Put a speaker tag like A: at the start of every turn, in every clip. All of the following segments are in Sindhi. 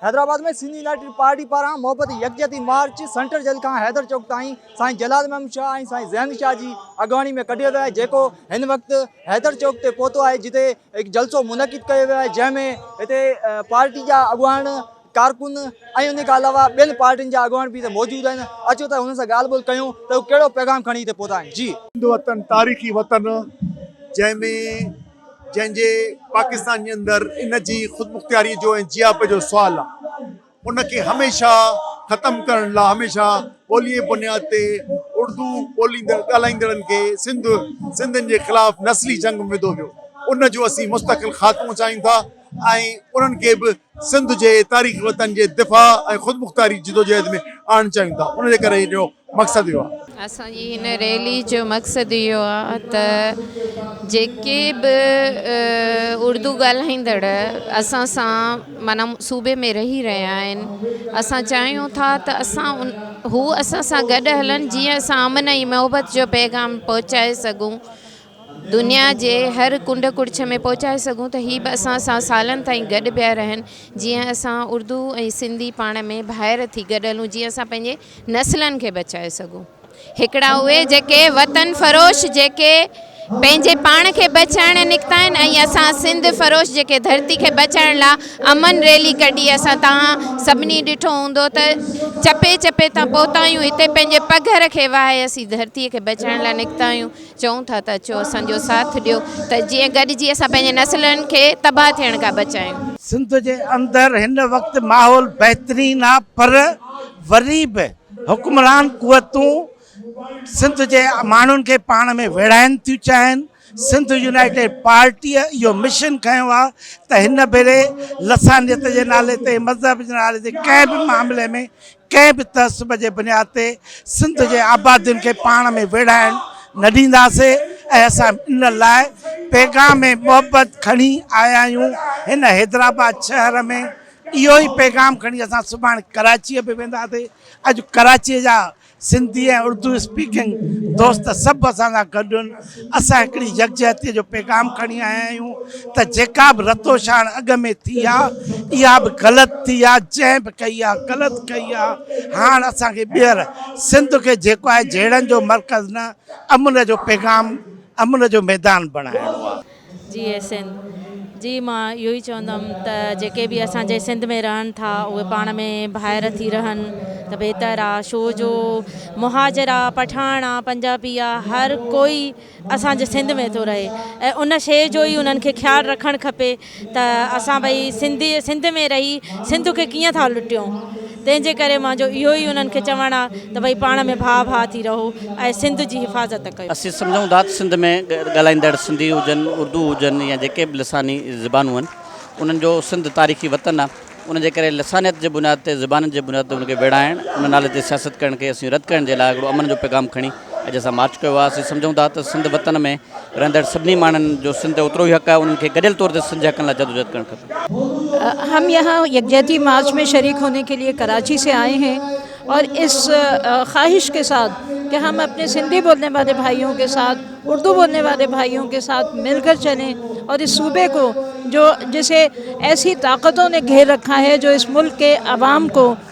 A: حيدرآباد ۾ سنڌ يونائيٽيڊ پارٽي پاران محبت يڪجهتي مارچ سينٽر جيل کان حيدر چوڪ تائين سائين جلال محمد شاهه ۽ سائين ذهن شاهه جي اڳواڻي ۾ ڪڍيو ويو آهي جيڪو هن وقت حيدر چوڪ تي پهتو آهي جتي هڪ جلسو منعقد ڪيو ويو آهي جنهن ۾ هتي پارٽي جا اڳواڻ ڪارڪن ۽ ان کان علاوه ٻين پارٽين جا اڳواڻ به هتي موجود آهن اچو ته هنن سان ڳالهه ٻولهه ڪيون ته هو ڪهڙو پيغام کڻي هتي پهتا آهن جي سنڌ وطن تاريخي
B: وطن جنهن ۾ جنهن جي پاڪستان جي اندر ان جي خودمختياري جو ۽ جياپي جو سوال آ ان کي هميشه ختم ڪرڻ لا هميشه ٻولي جي بنياد تي اردو ٻوليندڙ ڳالهائيندڙن کي سنڌ سنڌين جي خلاف نسلي جنگ ۾ وڌو ويو ان جو اسين مستقل خاتمو چاهيون ٿا ۽ انهن کي به سنڌ جي تاريخي وطن جي دفاع ۽ خودمختياري جدوجهد ۾ آڻڻ چاهيون ٿا ان جي ڪري هن جو مقصد اهو آهي. اسان جي هن ريلي
C: جو مقصد اهو آهي ته جيڪي به اردو ڳالهائيندڙ اسان سان معنيٰ صوبي ۾ رهي رهيا آهن اسان چاهيون ٿا ته اسان ان هو اسان سان گڏ هلن جيئن اسان امن ۽ محبت جو پيغام پهچائي سگهون دنيا جي هر ڪنڊ ڪڙڇ ۾ پهچائي سگهون ته هي به اسان سان سالن تائين گڏ پيا رهن جيئن اسان اردو ۽ سنڌي پاڻ ۾ ڀائر ٿي گڏ هلون جيئن اسان پنهنجي نسلن کي بچائي سگهون هڪڙا اهي جيڪي وطن فروش جيڪي پنهنجي پاڻ کي بچائڻ نڪتا آهن ۽ اسان سنڌ فروش جيڪي ڌرتي کي بچائڻ لا امن ريلي ڪڍي اسان توهان سڀني ڏٺو هوندو ته چپي چپي تان پهتا آهيون هتي پنهنجي پگهر کي وهائي اسين ڌرتي کي بچائڻ لا نڪتا آهيون چئون ٿا ته اچو اسان جو ساٿ ڏيو ته جيئن گڏجي اسان پنهنجي نسلن کي تباهه ٿيڻ کان بچايون. سنڌ جي اندر
D: هن وقت ماحول بهترين آ پر وري به حڪمران قوتون سنڌ جي ماڻهن کي پاڻ ۾ ويڙهائن ٿيون چاهين، سنڌ يونائيٽيڊ پارٽيء اهو مشن کنيو آ ته هن ڀيري لسانيت جي نالي تي، مذهب جي نالي تي ڪنهن به معاملي ۾ ڪنهن به تعصب جي بنياد تي سنڌ جي آبادين کي پاڻ ۾ ويڙهائڻ نه ڏينداسين ۽ اسان ان لاء پيغام محبت کڻي آيا آهيون هن حيدرآباد شهر ۾ اهو ئي پيغام کڻي اسان سڀاڻي ڪراچيء به وينداسين اڄ ڪراچيء جا سنڌي ۽ اردو اسپيڪنگ دوست سڀ اسان سان گڏ آهن اسان هڪڙي يڪجهتيء جو پيغام کڻي آيا آهيون ته جيڪا به رتوشاڻ اڳ ۾ ٿي آ، اها به غلط ٿي آ، جنهن به ڪئي آ، غلط ڪئي آ، هاڻ اسان کي ٻيهر سنڌ کي جيڪو آهي جهيڙن جو مرڪز نه، امن جو پيغام، امن جو ميدان بڻائڻو آ. جي ايسين
E: جي مان اهو ئي چوندم ته جيڪي به اسان جي سنڌ ۾ رهن ٿا اهي پاڻ ۾ ڀائر ٿي رهن ته بهتر آ شو جو مهاجر آ پٺاڻ آ پنجابي آ هر ڪوئي اسان جي سنڌ ۾ ٿو رهي ۽ ان شي جو ئي انهن کي خيال رکڻ کپي ته اسان ڀئي سنڌي سنڌ ۾ رهي سنڌ کي ڪيئن ٿا لٽيون تنهن جي ڪري منهنجو اهو ئي انهن کي چوڻ آ ته ڀئي پاڻ ۾ ڀاء ڀاء ٿي رهو ۽ سنڌ جي حفاظت ڪيو. اسين سمجهون ٿا ته سنڌ
F: ۾ ڳالهائيندڙ سنڌي هجن، اردو هجن يا جيڪي به لساني زبانون آهن، انهن جو سنڌ تاريخي وطن آ، ان جي ڪري لسانيت جي بنياد تي، زبانن جي بنياد تي ان کي ويڙهائڻ، ان نالي تي سياست ڪرڻ کي اسين رد ڪرڻ جي لاء هڪڙو امن جو پيغام کڻي، اڄ اسان مارچ ڪيو آهي، اسين سمجهون ٿا ته سنڌ وطن ۾ رهندڙ سڀني ماڻهن جو سنڌ تي اوترو ئي حق آهي، انهن کي گڏيل طور تي سنڌ جي حقن لاء جدوجهد ڪرڻ کپي. هم يهان
G: يڪجهتي مارچ ۾ شريڪ هوني ڪي ليئي ڪراچي سي آئي هين اور اس خواهش ڪي ساٿ ڪي هم اپني سنڌي بولني والي ڀائيون ڪي ساٿ اردو بولني والي ڀائيون ڪي ساٿ مل ڪر چلين اور اس صوبي ڪو جو جسي ايسي طاقتون ني گهير رکا هي جو اس ملڪ ڪي عوام ڪو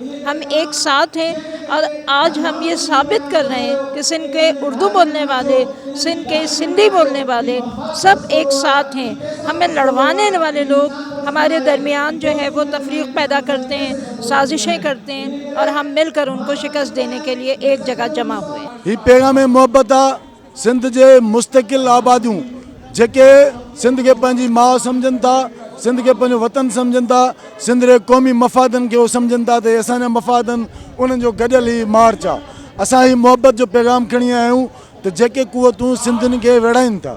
G: ھم ايڪ ساٿ ھين اور آج ھم يھ ثابت ڪر رھي ھين ڪي سنڌ ڪي اردو بولني والي سنڌ ڪي سنڌي بولني والي سب ايڪ ساٿ ھين ھمي لڙوانے والي لوگ ھماري درميان جو ھي وو تفريق پيدا ڪرتي ھين سازشين ڪرتي ھين اور ھم مل ڪر انڪو شڪست ديني ڪي ليي ايڪ جگھ جمع ھئي. ھي پيغام
B: محبت آ. سنڌ جي مستقل آباديون جيڪي سنڌ کي پنهنجي ماء سمجهن ٿا، سنڌ کي پنهنجو وطن سمجهن ٿا، سنڌ جي قومي مفادن کي اهو سمجهن ٿا ته هي اسان جا مفاد آهن، انهن جو گڏيل هي مارچ آهي. اسان هي محبت جو پيغام کڻي آيا آهيون ته جيڪي قوتون سنڌين کي ويڙهائين ٿا،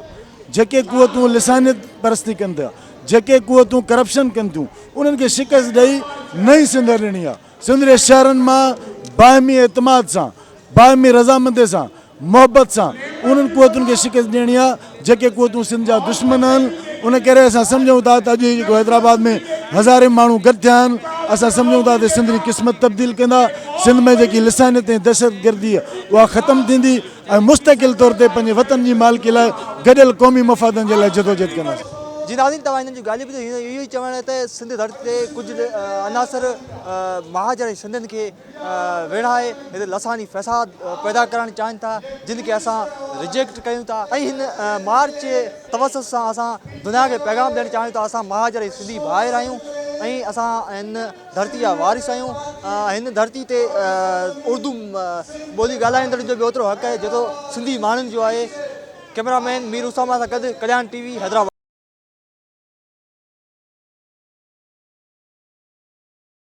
B: جيڪي قوتون لسانيت پرستي ڪن ٿا، جيڪي قوتون ڪرپشن ڪن ٿيون، انهن کي شڪست ڏئي نئين سنڌ هڻڻي آهي. سنڌ جي شهرن مان باهمي اعتماد سان، باهمي رضامندي سان،
H: محبت سان انهن قوتن کي شڪست ڏيڻي آهي جيڪي قوتون سنڌ جا دشمن آهن ان ڪري اسان سمجهون ٿا ته اڄ هي جيڪو حيدرآباد ۾ هزارين ماڻهو گڏ ٿيا آهن اسان سمجهون ٿا ته سنڌ جي قسمت تبديل ڪندا سنڌ ۾ جيڪي لسانيت ۽ دهشتگردي اها ختم ٿيندي. ۽ مستقل طور تي پنهنجي وطن جي مالڪي لاء گڏيل قومي مفادن جي لاء جدوجهد ڪنداسين. جي ناظرين توهان هنن
A: جون ڳالهيون ٻڌيون هيون اهو ئي چوڻ ته سنڌ ڌرتي تي ڪجهه عناصر مهاجر ۽ سنڌين کي ويڙهائي هتي لساني فساد پيدا ڪرڻ چاهين ٿا جن کي اسان رجيڪٽ ڪيون ٿا ۽ هن مارچ جي توسط سان اسان دنيا کي پيغام ڏيڻ چاهيون ٿا اسان مهاجر ۽ سنڌي ڀائر آهيون ۽ اسان هن ڌرتي جا وارث آهيون ۽ هن ڌرتي تي اردو ٻولي ڳالهائيندڙن جو به اوترو حق آهي جيترو سنڌي ماڻهن جو آهي ڪئميرا مين مير اسامه سان گڏ ڪليان ٽي وي حيدرآباد.